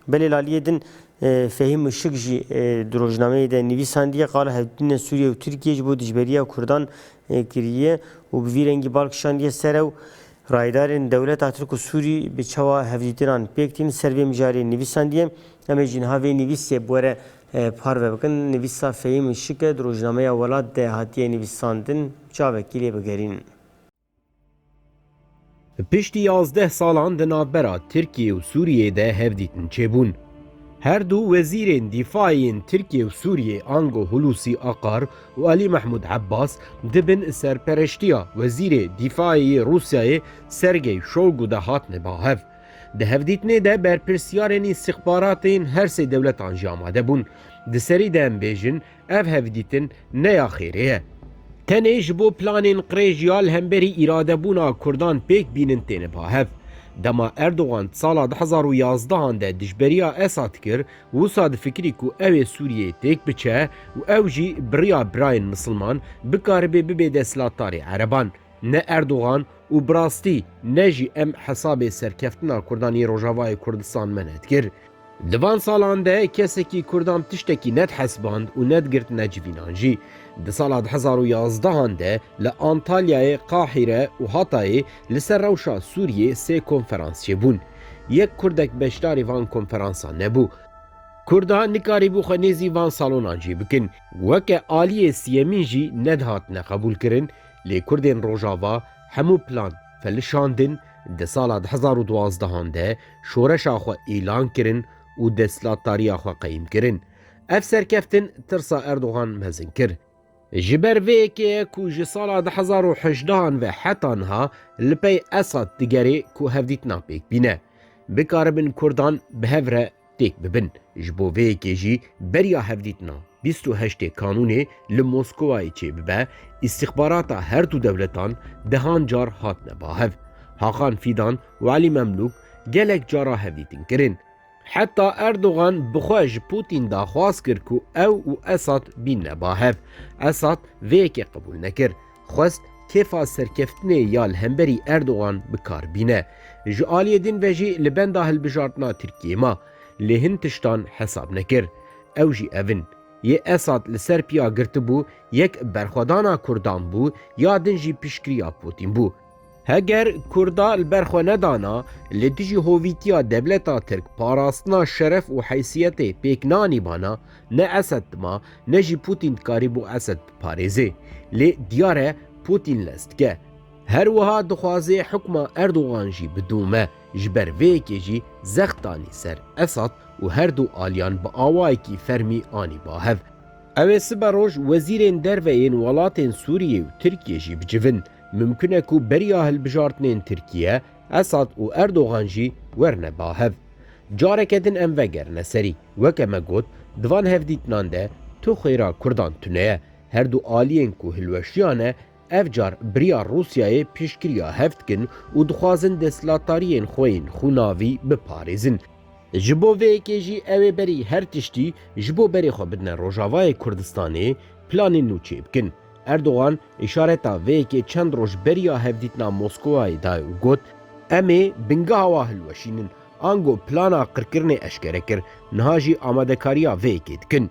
Belê laliyê din Fehîm Işik jî di rojnameyê de nivîsandiye qala hevdîtinên Sûriye û Tirkiyê ji bo dijberiya Kurdan kiriye û bi vî rengî bal kişandiye ser ew Rayedarên dewleta Tirk û Sûrî bi çawa hevdîtinan pêk tîn ser vê mijarê nivîsandiye. Em ê jî niha vê nivîsê bi were parve bikin. Nivîsa Fehîm Işik e di rojnameya Welat de hatiye nivîsandin. Bi çavekî lê bigerînin. Piştî yazdeh salan di navbera Tirkiyê û Sûriyê de hevdîtin çêbûn. Her du wezîrên dîfayê yên Tirkiyê û Sûriyê ango Hulusî Akar û Alî Mehmûd Ebbas di bin serpereştiya wezîrê dîfayê yê Rûsyayê Sergey Shoigu de hatine ba hev. Di hevdîtinê de berpirsyarên îstîxbaratê yên her sê dewletan jî amade bûn. Di serî de em bêjin Ev hevdîtin ne ya xêrê ye. Tenê ji bo planên qirêj ya li hemberî îradebûna Kurdan pêk bînin têne ba hev. Dema Erdogan di sala du hezar û yazdehan de dijberiya Esad kir, wisa difikirî ku ew ê Sûriyeyê têk biçe û ew jî bi riya birayên misilman bikaribe bibe desthilatdarê ereban. Ne Erdogan û bi rastî ne jî em hesabê serkeftina Kurdan yê Rojavayê Kurdistan me ne dikir. Di van salan de kesekî Kurdan tiştekî nedihesiband û nedigirt ne civînan jî. Di sala du hezar û yazdeh an de li Antalyayê, Qahîre û Hatayê li ser rewşa Sûriyê sê konferans çêbûn. Yek Kurdek beşdarî van konferansan nebû. Kurda nikarîbû xwe nêzî van salonan jî bikin. Weke aliyê siyemîn jî nedihatine qebûlkirin lê Kurdên Rojava hemû plan felişandin Di sala du hezar û duazdehan de şoreşa xwe îlan kirin û destlatdariya xwe qeyim kirin. Ev serkeftin tirsa Erdogan mezin kir. Ji ber vê yekê ye ku ji sala du hezar û hejdehan ve heta niha li pey Esad digerê ku hevdîtina pêk bîne. Bikaribin Kurdan bi hev re têk bibin. Ji bo vê yekê jî beriya hevdîtina bîst û heştê Kanûnê li Moskowayê çêbibe, îstîxbarata her du dewletan dehan car hatine bahev. Hakan Fîdan û Elî Memlûk gelek cara hevdîtin kirin. Heta Erdogan bi xwe ji Pûtîn daxwaz kir ku ew û Esad bîne bahev. Esad vê yekê qebûl nekir. Xwest kêfa serkeftinê ya li hemberî Erdogan bi kar bîne. Ji aliyê din ve jî li benda hilbijartina Tirkiyeyê ma. Lê hin tiştan hesab nekir. Ew jî ev in. Yê Esad li ser piya girtibû, yek berxwedana Kurdan bû, ya din jî piştgiriya Pûtîn bû. Heger Kurda li ber xwe nedana, li dijî hovîtiya devleta Tirk parastina şeref û heysiyetê pêk nanîbana, ne Esed dima, ne jî Pûtîn dikarîbû Esed biparêzê. Lê diyar e Pûtîn lez dike. Her wiha dixwaze hukma Erdogan jî bidome. Ji ber vê yekê jî zext danî ser Esad û her du aliyan bi awayekî fermî anî ba hev. Ew ê siberoj wezîrên derve yên welatên Sûriyê û Tirkiyê jî bicivin. Mimkun e ku beriya hilbijartinên Tirkiye, Esad û Erdogan jî werne ba hev. Careke din em vegerine serî. Weke me got, di van hevdîtinan de tu xwêra Kurdan tune ye. Her du aliyên ku hilweşiyane ev car biriya Rûsyayê piştgiriya hev dikin û dixwazin desthilatdariyên xwe yên xwinavî biparêzin. Ji bo vê yekê jî ew ê berî her tiştî ji bo berê xwe bidine Rojavayê Kurdistanê, planên nû çêbikin. Erdogan îşareta vê yekê çend roj beriya hevdîtina Moskowayê dayê û got, Em ê bingeha wa hilweşînin. Ango plana qirkirinê eşkere kir, niha jî amadekariya vê yekê dikin.